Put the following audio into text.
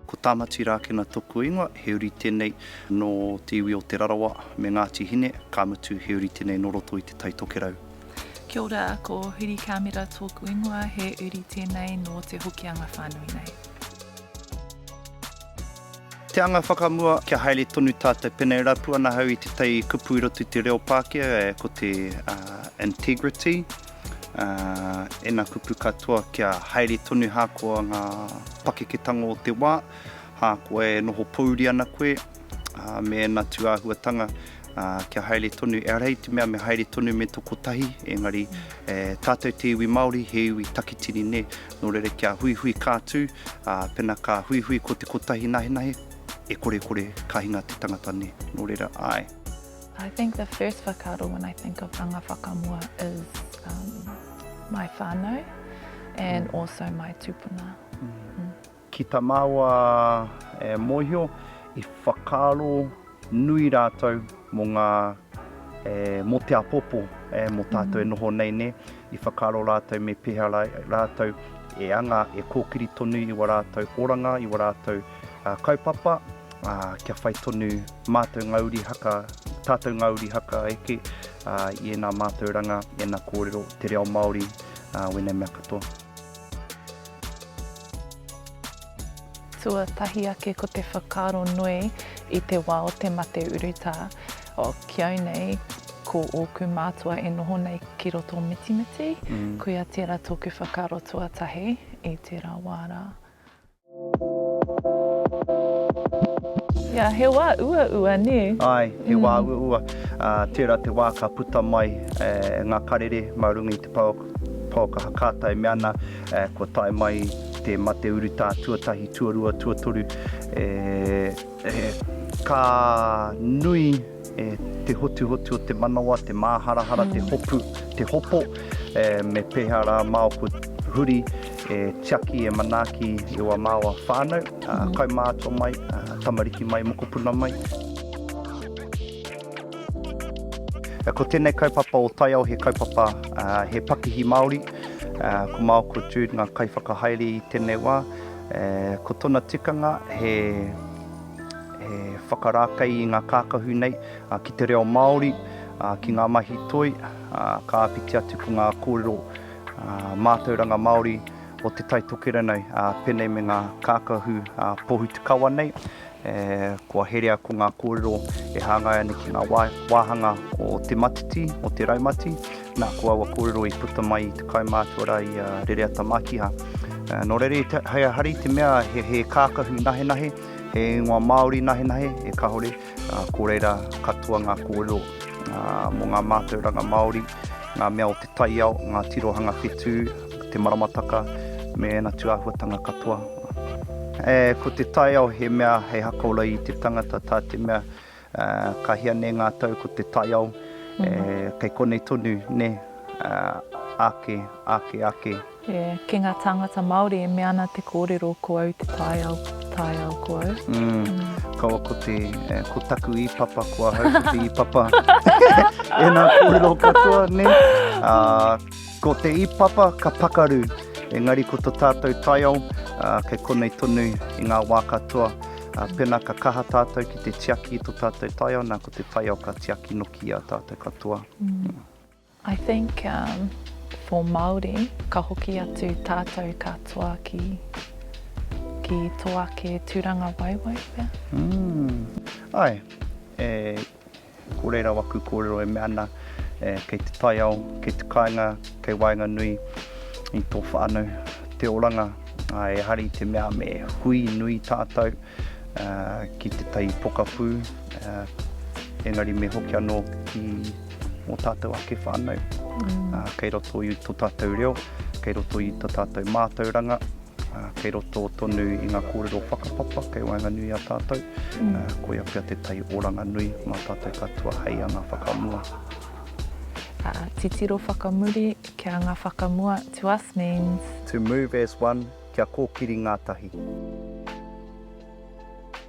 Ko Tamati Rakena toku ingoa, he uri tenei no te iwi o Te Rarawa me Ngati Hine, ka mutu he uri tenei no roto i te Tai Tokerau. Kia ora, ko Huri Kamera toku ingoa, he uri tenei no te Hokianga whanui nei. Te anga whakamua, kia haere tonu tatou, pena e rapu ana ahau i te tai kupu i roto i te reo Pakea, ko te integrity. Ena kupu katoa kia haere tonu hakoa nga pakeketango o te wa, hakoa e noho pouri ana koe, me ena tuahuatanga kia haere tonu, ehara i te mea me haere tonu me to kotahi, engari tatou te iwi Maori he iwi takitini ne, no reira kia huihui ka tu, pena ka huihui ko te kotahi nahenahe, e korekore ka hinga te tangata ne, no reira ae. I think the first whakaaro when I think of Anga Whakamua is um, my whānau and mm. also my tūpuna. Mm. Mm. Ki ta māua e mōhio, i whakaaro nui rātou mō ngā e, mō te apopo e, mō tātou mm. e noho nei ne, i whakaaro rātou me pēhara rātou e anga, e kōkiri tonu i wa rātou oranga, i wa rātou Kaupapa, ā, kia whai tonu mātou ngā uri haka, tātou ngā uri haka eke, ā, i ēnā mātauranga, ēnā kōrero, te reo Māori, ā, wēnei mea katoa. Tuatahi ake ko te whakaaro nui i te wā o te mate urutā, o, ki au nei, ko ōku mātua e noho nei ki roto o Mitimiti, koia tērā tōku whakaaro tuatahi i tērā wā rā. Ia, he wā uaua, nē? Āe, he wā uaua. Tērā te wā ka puta mai ngā karere mā runga i te pouakaha kāta e mea ana kua tae mai te mate urutā tuatahi, tuarua, tuatoru. Ka nui. E te hotuhotu o te manawa, te māharahara, te hopu, te hopo, e, me pēhea rā māu ko huri e tiaki, e manaaki i wā māua whānau, ā, kaumātua mai, ā, tamariki mai, mokopuna mai. Ko tēnei kaupapa o Taiao he kaupapa, ā, he pakihi Māori, ā, ko māu ko Jude ngā kaiwhakahaere i tēnei wā, e, ko tona tikanga he, He whakarākei i ngā kākahu nei ki te reo Māori, ki ngā mahi toi, ka āpiti atu ko ngā kōrero mātauranga Māori o Te Tai Tokerau pēnei me ngā kākahu pōhutukawa nei, kua herea ko ngā kōrero e hāngai ana ki ngā wāhanga o te matiti, o te raumati, nā ko aua kōrero i puta mai i te kaumātua rā i a Rereata Mākiha. Nō reira, hei a Hari te mea he kākahu nahenahe, He ingoa Māori nahenahe e kahore, ko reira katoa ngā kōrero mō ngā mātauranga Māori, ngā mea o te taiao, ngā tirohanga whetū, te maramataka me ēna tūāhuatanga katoa. Ko te taiao he mea hei hakaora i te tangata tā te mea Ka hia nei ngā tau ko te taiao kei konei tonu nē, ake, ake, ake. Ki ngā tāngata Māori e mea ana te kōrero ko au te taiao, taiao ko au. Kaua ko te, ko taku ī-papa ko ahau ko te ī-papa. Ēnā kōrero katoa nē. Ko te ī-papa ka pakaru, engari ko to tātou taiao kei konei tonu i ngā wā katoa. Pena ka kaha tātou ki te tiaki i to tātou taiao, na ko te taiao ka tiaki noki i a tātou katoa. I think um, for Māori, ka hoki atu tātou katoa ki, ki to ake tūranga waiwai pea. Mm. Ai, e, Ko reira waku kōrero e mea ana, kei te taiao, kei te kāinga, kei waenganui i tō whānau te oranga, ā, e hari te mea me hui nui tātou ki tētahi pokapū, engari me hoki anō ki ō tātou ake whānau, kei roto i tō tātou reo, kei roto i tō tātou mātauranga. Kei roto tonu i ngā kōrero whakapapa kei waenganui i a tātou, koia pea te tai oranga nui mā tātou katoa hei anga whakamua. Titiro whakamuri ki a ngā whakamua to us means. To move as one, kia kōkiri ngātahi.